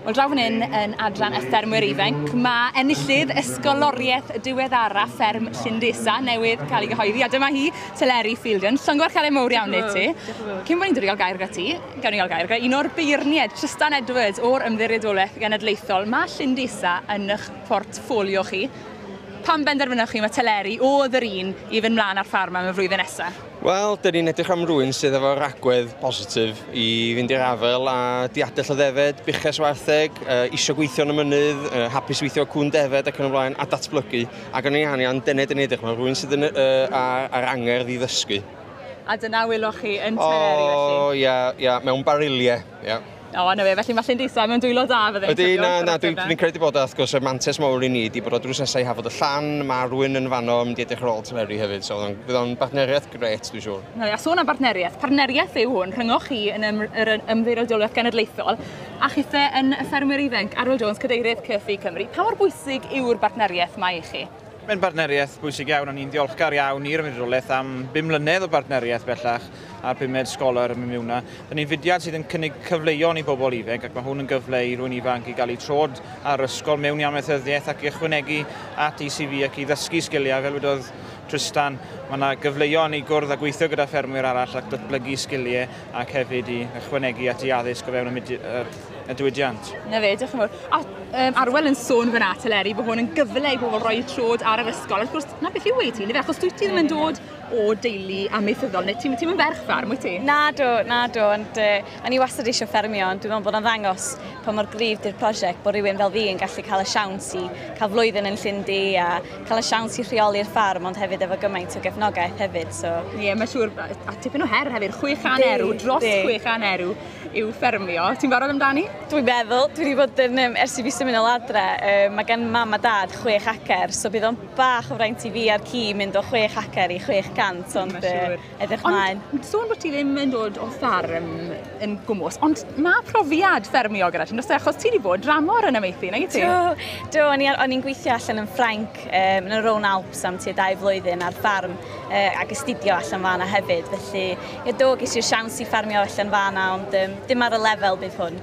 Wel, draw fan hyn yn adran y ffermwyr ifanc, mae enillydd ysgoloriaeth diweddara fferm Llundesa newydd cael ei gyhoeddi, a dyma hi, Teleri Fielden. Llongor cael ei mowr iawn i ti. Cyn bod ni'n dod i gael gair gyda ti, gawn ni gael gair gyda un o'r beirniaid, Tristan Edwards, o'r Ymddiriedolaeth Genedlaethol. Mae Llundesa yn eich portffolio chi. Pam benderfynoch chi mae teleri oedd yr un i fynd mlaen â'r ffarm am y flwyddyn nesaf? Wel, dyn ni'n edrych am rwy'n sydd efo ragwedd positif i fynd i'r afel a diadell o ddefed, buches wartheg, uh, isio gweithio yn y mynydd, uh, hapus weithio o cwn defed ac yn y blaen, a datblygu. Ac yn ei anian, dyna dyn ni'n edrych am rwy'n sydd yn, uh, ar, ar angerdd i ddysgu. A dyna wyloch chi yn teleri felly? O, ia, ia, mewn bariliau. Ie. O, na fe, felly mae Llyn Disa mewn dwylo da fydde Ydy, na, na, dwi'n dwi credu bod wrth gwrs y mantes mawr i ni wedi bod o drws nesau i Hafod y Llan, mae rwy'n yn fanno yn mynd i edrych ar ôl Teleri hefyd, so bydd o'n bartneriaeth gret, dwi'n siŵr. Na, a sôn am bartneriaeth, partneriaeth yw hwn rhyngoch chi yn ym, yr ymddirodoliaeth genedlaethol a chithe yn y ffermwyr ifanc, Arwel Jones, cadeirydd Cyrfi Cymru. Pa mor bwysig yw'r bartneriaeth mae i chi? Mae'n bartneriaeth bwysig iawn a ni'n ddiolchgar iawn i'r Ymddiriedolaeth am bum mlynedd o bartneriaeth bellach a'r pumed Scholar ym Mimiwna. Rydyn ni'n fudiad sydd yn cynnig cyfleon i bobl ifanc ac mae hwn yn gyfle i rwy'n ifanc i gael eu trod ar ysgol mewn amaethyddiaeth ac i ychwanegu at eu CV ac i ddysgu sgiliau. Fel wedodd Tristan, mae yna gyfleon i gwrdd a gweithio gyda ffermwyr arall ac datblygu sgiliau. ac hefyd i ychwanegu at ei addysg o fewn y diwydiant. Na fe, diolch yn fawr. A um, Arwel yn sôn fyna, Teleri, bod hwn yn gyfle i bobl roi trod ar yr ysgol. Wrth gwrs, na beth yw ei ti, achos dwi ti ddim yn dod o deulu amaethyddol, neu ti'n ti yn ferch farm, wyt ti? Na do, na do, ond uh, o'n i wastad eisiau ffermio, ond dwi'n meddwl bod o'n ddangos pa mor gryf di'r prosiect bod rhywun fel fi yn gallu cael y siawns i cael flwyddyn yn Llundy a cael y siawns i rheoli'r ffarm, ond hefyd efo gymaint o gefnogaeth hefyd. So. Ie, yeah, mae siŵr, a tipyn o her hefyd, 600 erw, dros 600 erw i'w ffermio. Ti'n barod amdani? Dwi'n meddwl, dwi wedi bod yn, um, ers i fi symud yn adre, um, mae gen mam a dad 6 acer, so bydd o'n bach o fraint i fi a'r ci mynd o 6 acer i 600, ond... Ie, siŵr. Edrych mlaen. Ond sôn bod ti ddim yn dod o ffarm yn gwmwys, ond mae profiad ffermio gyda ti, nos e, achos ti wedi bod dramor yn amaethu, neu ti? Do, do o'n i'n gweithio allan yn Ffrainc, um, yn y Rhone Alps am tua dau flwyddyn ar ffarm, uh, ac astudio allan fan hefyd, felly, ie, do, ges i'r siawns i ffarmio allan fan ond um, dim ar y lefel bydd hwn.